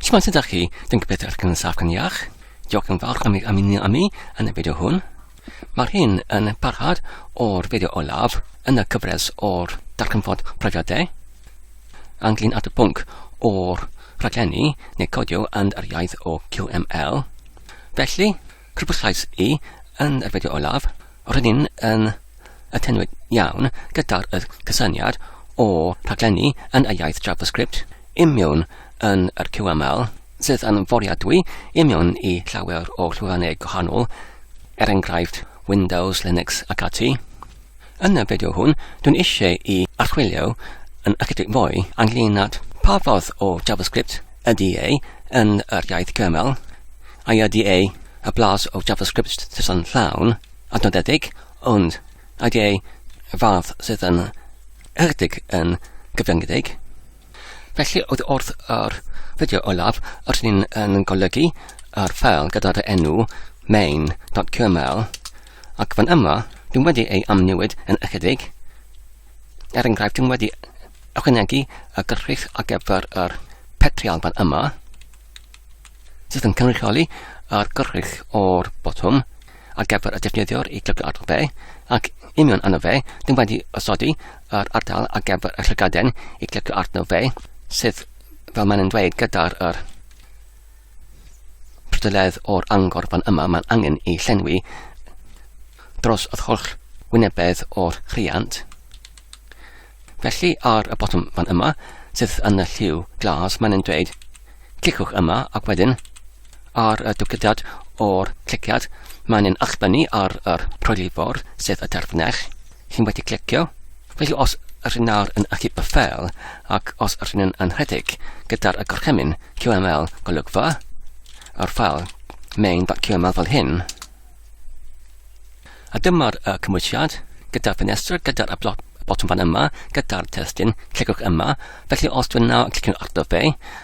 Shwmae sut ydych chi? Dwi'n gobeithio eich yn saff gan iach. Diolch yn fawr am i ymuno â mi yn y fideo hwn. Mae'r hyn yn parhad o'r fideo olaf yn y cyfres o'r darganfod profiadau anglyn at y pwnc o'r rhaglenni neu codio yn yr iaith o QML. Felly, Crybwyllais i yn yr fideo olaf, roedd yn yn atenu'n iawn gyda'r y cysyniad o rhaglenni yn y iaith JavaScript i mewn yn yr QML, sydd yn fwriadwy i mewn i llawer o llwyfannau gwahanol, er enghraifft Windows, Linux ac ati. Yn y fideo hwn, dwi'n eisiau i archwilio yn ychydig fwy ynglyn at pa fath o JavaScript ydy e yn yr iaith gymal, a ydy e y blas o JavaScript sydd yn llawn a nodedig, ond ydy e y fath sydd yn ychydig yn gyfyngedig. Felly oedd wrth yr fideo olaf yr hyn yn golygu yr ffeil gyda'r enw main.kml Ac fan yma, dwi'n wedi ei amnewid yn ychydig. Er enghraifft, dwi'n wedi ychwanegu y gyrchfeidd ar gyfer yr petrial fan yma, sydd yn cynrychioli yr gyrchfeidd o'r botwm ar gyfer y defnyddiwr i glygu ardal be, ac union yno fe, dwi'n wedi osodi yr ardal ar gyfer y llygaden i glygu arno fe, sydd, fel maen nhw'n dweud, gyda'r er, Pwdledd o'r angor fan yma mae'n angen ei llenwi dros yr holl wynebedd o'r rhiant. Felly ar y botwm fan yma, sydd yn y lliw glas, mae'n dweud clicwch yma ac wedyn ar y dupligiad o'r cliciad mae'n achbynnu ar yr rhoelifor sydd y terfynell. Chi'n wedi clicio? Felly os yr hyn nawr yn achub y ffel, ac os yr hyn yn anrhedeg gyda'r y gorchymyn QML golygfa, yr ffel main.qml fel hyn, a dyma'r y cymwysiad gyda'r ffenestr, gyda'r y blot botwm fan yma gyda'r testyn, clicwch yma. Felly os dwi'n nawr clicio'n ardo fe,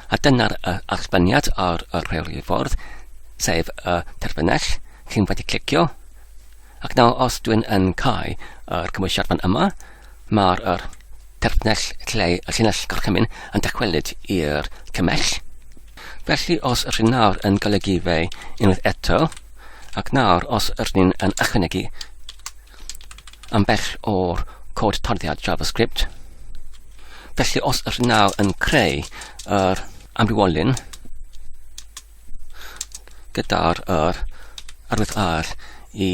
a dyna'r uh, archbaniad ar y rheoli ffordd, sef y uh, terfynell, chi'n wedi clicio, Ac nawr os dwi'n yn cau yr cymwysiad fan yma, mae'r er, terfnell lle y llinell gorchymyn yn dychwelyd i'r cymell. Felly os yr hyn nawr yn golygu fe unwaith eto, ac nawr os yr hyn yn ychwanegu am bell o'r cod tarddiad JavaScript, felly os yr hyn nawr yn creu yr amrywolyn gyda'r yr arwydd ar i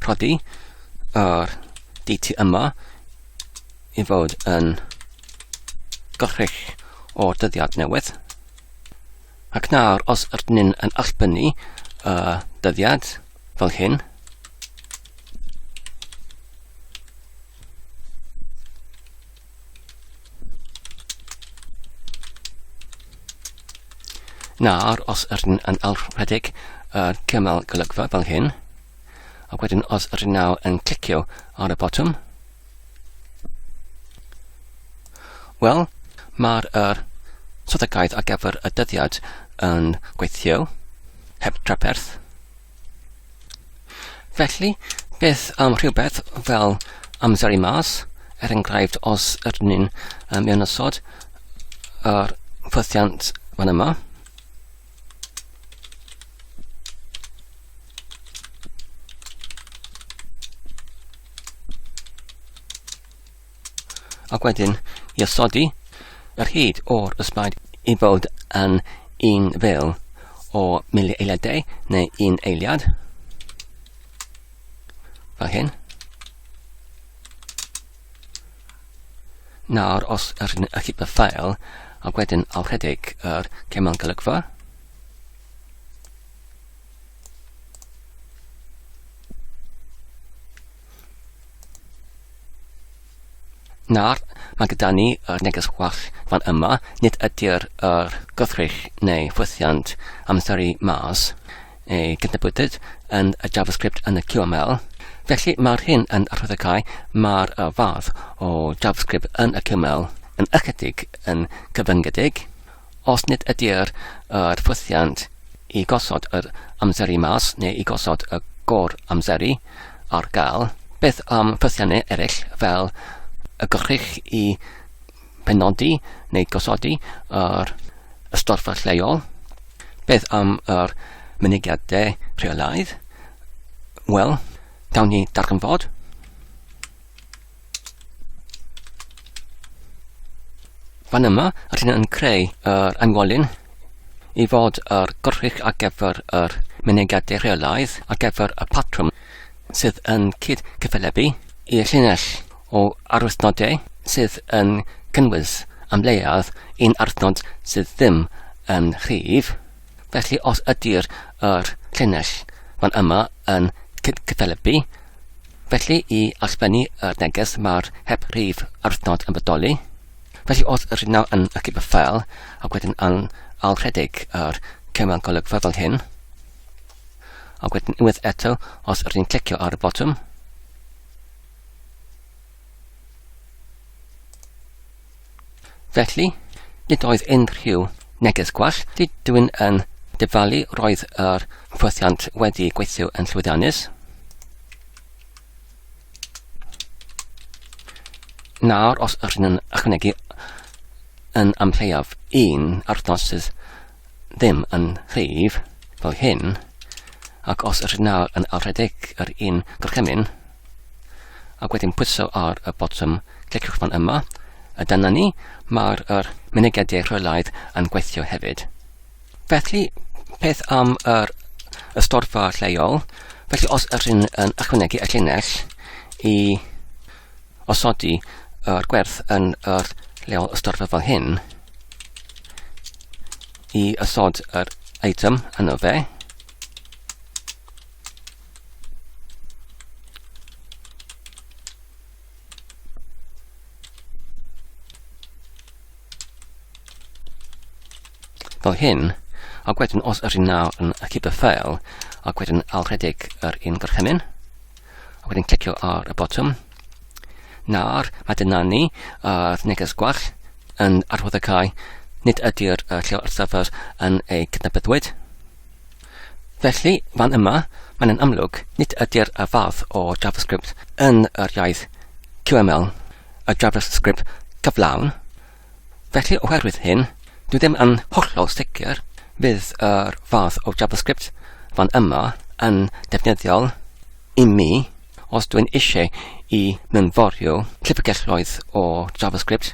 rhoddi yr DT yma i fod yn gorrych o'r dyddiad newydd. Ac nawr, os ydyn ni'n yn allbynnu y uh, dyddiad fel hyn, Nawr, os ydyn yn alwredig yr cymal golygfa fel hyn, ac wedyn os ydyn nawr yn clicio ar y botwm, wel, mae'r er strategaeth ar gyfer y dyddiad yn gweithio, heb traperth, Felly, beth am rhywbeth fel amser i mas, er enghraifft os ydyn ni'n um, mewn ysod yr ffythiant fan yma. Ac wedyn, i osodi yr hyd o'r ysbaid i fod yn un fel o mili eiliadau neu un eiliad. Fel hyn. Nawr, os yr hyn y chypa ffael, ac wedyn aw rhedeg yr cemol golygfa, Nawr, mae gyda ni yr neges gwell fan yma, nid ydy'r er gythrich neu ffwythiant amseru mas ei gydnabydyd yn y JavaScript yn y QML. Felly mae'r hyn yn arhwyddocau mae'r fath o JavaScript yn y QML yn ychydig yn cyfyngedig, Os nid ydy'r yr ffwythiant i gosod yr amseru mas neu i gosod y gor amseru ar gael, beth am ffwythiannau eraill fel y gwrych i benodi neu gosodi yr ystorfa lleol? Beth am yr mynegiadau rheolaidd? Wel, gawn ni darganfod. Fan yma, rydyn yn creu yr anwolyn i fod yr gwrthrych ar gyfer yr mynediadau rheolaidd ar gyfer y patrwm sydd yn cyd cyffelebu i llinell o arwythnodau sydd yn cynnwys am leiaf un arwythnod sydd ddim yn rhif. Felly os ydy'r yr llinell fan yma yn cyd cyffelebu, Felly, i allbennu y neges mae'r heb rhif arnod yn bodoli. Felly wrth yr hynaf yn y cip ffel ac wedyn yn alrhedeg yr cymryd golygfa fel hyn. Ac wedyn unwaith eto, os rydyn ni'n clicio ar y botwm, Felly, nid oedd unrhyw neges gwell, dydw i'n yn dyfalu roedd yr hyfforddiant wedi gweithio yn llwyddiannus. Nawr, os ydyn yn ychwanegu yn amlleiaf un arthnos sydd ddim yn rhif fel hyn, ac os yr nawr yn alredig yr un gorchymyn, ac wedyn pwyso ar y botwm cliciwch fan yma, a dyna ni, mae'r er mynegediau rheolaidd yn gweithio hefyd. Felly, peth am yr ystorfa lleol, felly os yr hyn yn ychwanegu y llinell i osodi yr gwerth yn yr leol ystyrfa fel hyn i ysod yr item yno fe. Fel hyn, ac wedyn os yr un nawr yn y cyberffael, ac wedyn alrhedeg yr un gorchymyn, A wedyn clicio ar y botwm. Nawr, mae dyna ni, a'r uh, neges gwell yn arwydd y cae, nid ydy'r uh, lle o'r server yn ei cydnabyddwyd. Felly, fan yma, mae'n yn amlwg, nid ydy'r uh, fath o JavaScript yn yr iaith QML, y JavaScript cyflawn, Felly oherwydd hyn, dwi ddim yn hollol sicr fydd yr fath o JavaScript fan yma yn defnyddiol i mi os dwi'n eisiau i mynforio llyfrgelloedd o JavaScript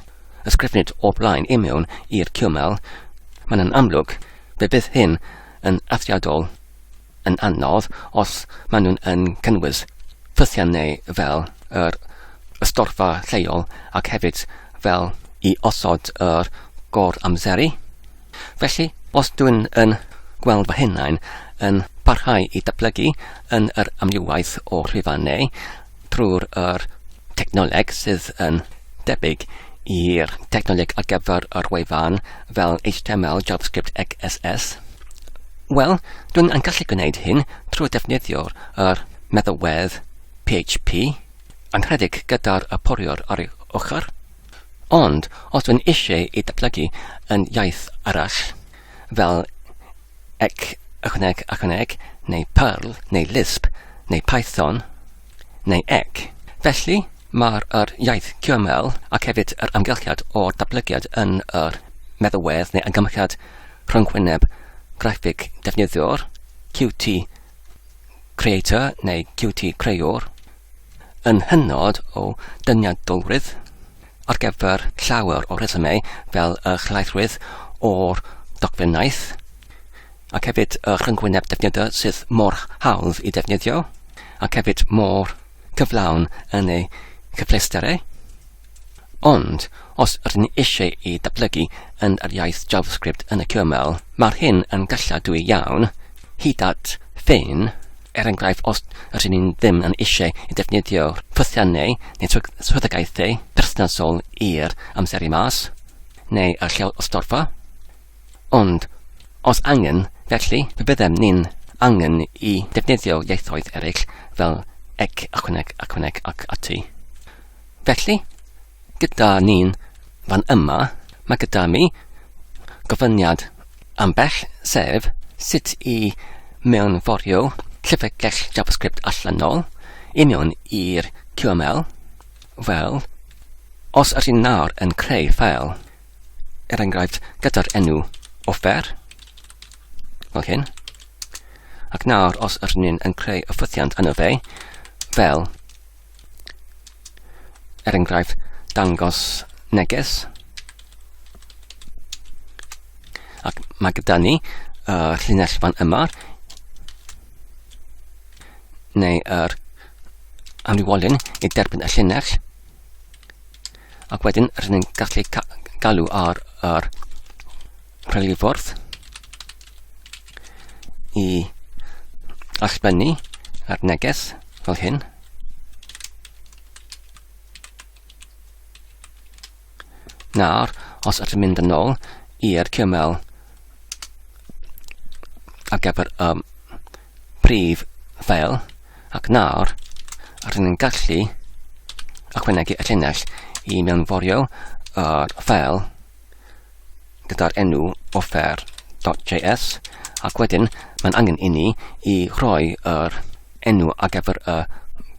ysgrifnid o blaen i mewn i'r QML, mae'n yn amlwg fe bydd hyn yn eithriadol yn anodd os maen nhw'n yn cynnwys ffysiannau fel yr ystorfa lleol ac hefyd fel i osod yr gor-amseru. Felly, os dwi'n yn gweld fy hunain yn parhau i datblygu yn yr amrywiaeth o rhifau neu trwy'r yr technoleg sydd yn debyg i'r technoleg ar gyfer yr wefan fel HTML, JavaScript ac CSS? Wel, dwi'n yn gallu gwneud hyn trwy defnyddio'r yr meddalwedd PHP, anrhedeg gyda'r y poriwr ar ei ochr. Ond, os dwi'n eisiau ei datblygu yn iaith arall, fel ec, ychwaneg, achwaneg, neu Perl, neu Lisp, neu Python, neu ec. Felly, mae'r yr iaith QML ac hefyd yr amgylchiad o'r datblygiad yn yr meddalwedd neu amgymchiad rhyngwyneb graffig defnyddiwr, Qt Creator neu Qt Creuwr, yn hynod o dyniadolrwydd. ar gyfer llawer o resymau fel y llaethrwydd o'r dogfennaeth ac hefyd y rhyngwyneb defnyddiau sydd mor hawdd i defnyddio ac hefyd mor cyflawn yn ei chyfleusterau. Ond, os rydyn ni eisiau ei datblygu yn yr iaith JavaScript yn y QML, mae'r hyn yn galladwy iawn, hyd at ffein, Er enghraifft, os rŷn ni ddim yn eisiau i ddefnyddio rhythiau neu swyddogaethau perthnasol i'r amseru mas, neu y llew ystorfa, ond os angen, felly, pe byddem ni'n angen i ddefnyddio ieithoedd eraill fel ec, ychwaneg, ychwaneg ac ati. Felly, gyda ni'n fan yma, mae gyda mi gofyniad ambell sef sut i mewnforio llyfrgell JavaScript allanol i mewn i'r QML. Wel, os ydych chi'n nawr yn creu ffeil, er enghraifft gyda'r enw offer, fel hyn, ac nawr os ydych chi'n creu y ffwythiant yno fe, fel er enghraifft, dangos neges. Ac mae gyda ni uh, llinell fan yma, neu yr anwywolyn i derbyn y llinell. Ac wedyn, rydyn ni'n gallu galw ar yr rhyliffordd i allbennu ar neges fel hyn. Nawr, os ydym mynd yn ôl i'r cymel a gyfer y um, prif ffeil, ac nawr, rydyn ni'n gallu ychwanegu y llinell i mewnforio yr ffeil gyda'r enw offer.js ac wedyn mae'n angen i ni i roi yr enw ar gyfer y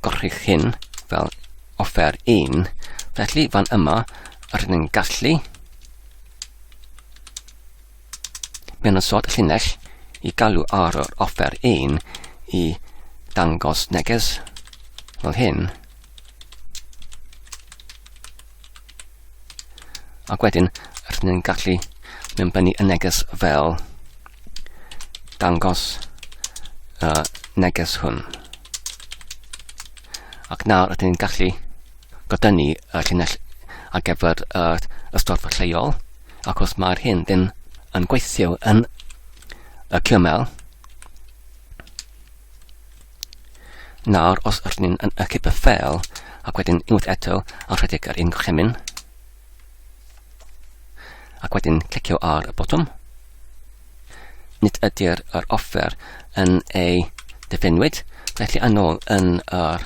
gorchudd hyn fel offer 1 felly fan yma rydyn ni'n gallu mewn y sod llinell i galw ar yr offer 1 i dangos neges fel hyn Ac wedyn, rydyn ni'n gallu mewn bennu y neges fel dangos y neges hwn. Ac nawr rydyn ni'n gallu godynu y llinell ar gyfer y, y storfa lleol, ac os mae'r hyn ddim yn gweithio yn y cymel, Nawr os ydyn ni'n yn ychydig y ffeil ac wedyn unwaith eto a rhedeg ar un gorchymyn ac wedyn clicio ar y botwm nid ydy'r yr offer yn ei defenwyd, felly yn ôl yn yr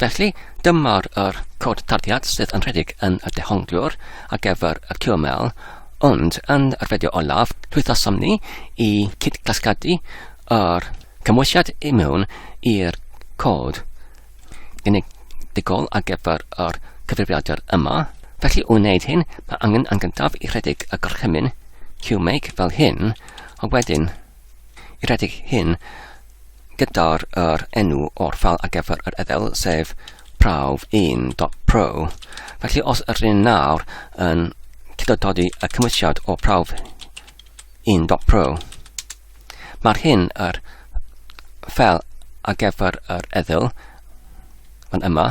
Felly, dyma'r yr cod tarddiad sydd yn rhedeg yn y dehongliwr ar gyfer y QML, ond yn yr fideo olaf, llwyddasom ni i cyd-gasglu yr cymwysiad i mewn i'r cod genedigol ar gyfer yr cyfrifiadur yma. Felly, i wneud hyn, mae angen yn gyntaf i rhedeg y gorchymyn QMake fel hyn, a wedyn i redeg hyn gyda'r er enw o'r ffal ar gyfer yr edel, sef prawf1.pro. Felly os ydyn nawr yn cydododi y cymwysiad o prawf1.pro, mae'r hyn yr ffel ar gyfer yr edel yn yma,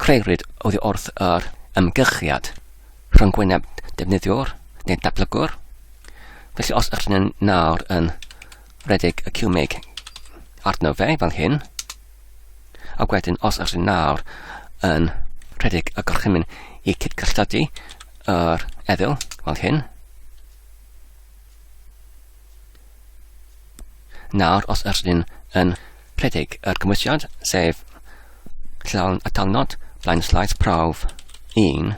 Crëwyd oddi wrth yr ymgychiad rhyngwyneb defnyddiwr neu datblygwr, felly os ydych chi'n nawr yn rhedeg y cwmig arno fe fel hyn, a wedyn os ydych chi'n nawr yn rhedeg y gorchymyn i cydgysylltu yr eddyl fel hyn. Nawr os yr ydym yn rhedeg yr gymwysiad, sef llawn a talnod flaen slaes prawf 1,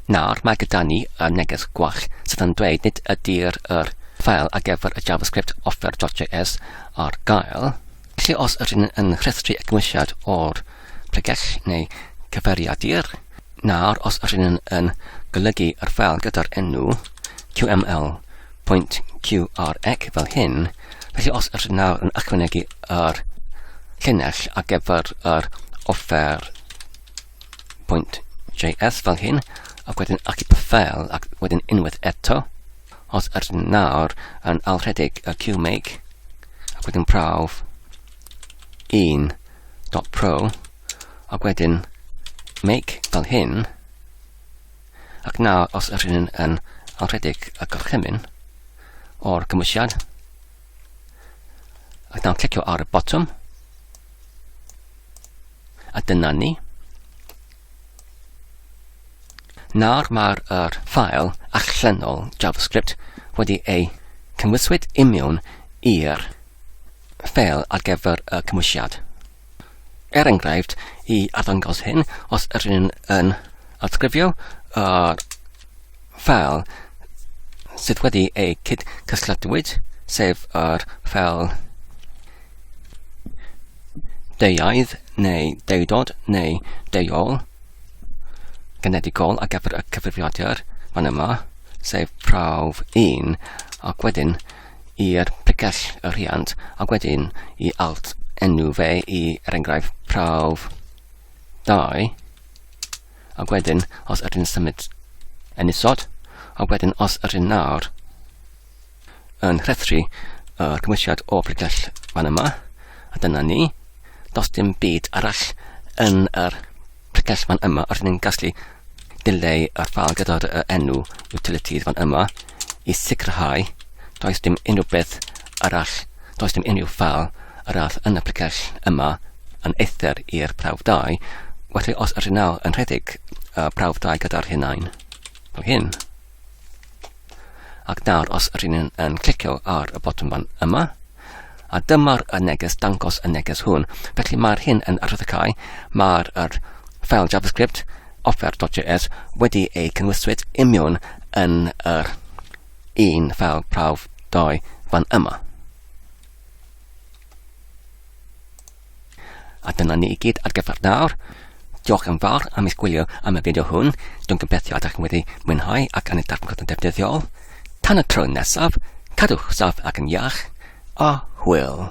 Nawr mae gyda ni y neges gwall sydd yn dweud nid ydy'r yr ffael ar gyfer y JavaScript offer.js ar gael, Felly os ydyn yn rhestru egmwysiad o'r pregell neu cyfeiriadur, nawr os ydyn yn golygu yr ffel gyda'r enw qml.qrec fel hyn, felly os ydyn nawr yn ychwanegu yr llinell ar gyfer yr offer .js fel hyn, ac wedyn achub y ffel ac wedyn unwaith eto, Os ydyn nawr yn alrhedeg y QMake, ac wedyn prawf 1.pro, ac wedyn make fel hyn, ac nawr os ydyn yn alrhedeg y gorchymyn o'r cymwysiad, ac nawr clicio ar y botwm, a dyna ni. Nawr mae'r yr ffael allanol JavaScript wedi ei cymwyswyd imiwn i'r ffeil ar gyfer y cymwysiad. Er enghraifft, i arddangos hyn, os yr yn yn atgrifio yr ffeil sydd wedi eu cyd-cystadluwyd, sef yr ffeil deuaidd neu deudod neu deuol genedigol a gyfer y cyfrifiadur fan yma, sef prawf 1, ac wedyn i'r pregell y rhiant, ac wedyn i alt enw fe i, er enghraifft, prawf 2, A wedyn, os ydyn symud yn isod, a wedyn os ydyn nawr yn rhethru y cymwysiad o bregell fan yma, a dyna ni, dos dim byd arall yn yr pregell fan yma, os ni'n gallu dileu yr ffal gyda'r enw utilities fan yma i sicrhau does dim unrhyw beth arall, does dim unrhyw ffeil arall yn y precell yma yn eithr i'r prawf 2, felly os ydych nawr yn rhedeg uh, prawf 2 gyda'r hunain, fel hyn, ac nawr os ydych yn, yn clicio ar y botwm fan yma, a dyma'r y neges dangos y neges hwn. Felly mae'r hyn yn arwyddocau, mae'r er ffeil JavaScript offer.js wedi ei cynnwyswyd imiwn yn yr er un ffeil prawf doi fan yma. A dyna ni i gyd ar gyfer nawr. Diolch yn fawr am eich gwylio am y fideo hwn. Dwi'n gobeithio ydych chi'n wedi mwynhau ac yn y darpgod yn defnyddiol. Tan y tro nesaf, cadwch saff ac yn iach, a hwyl.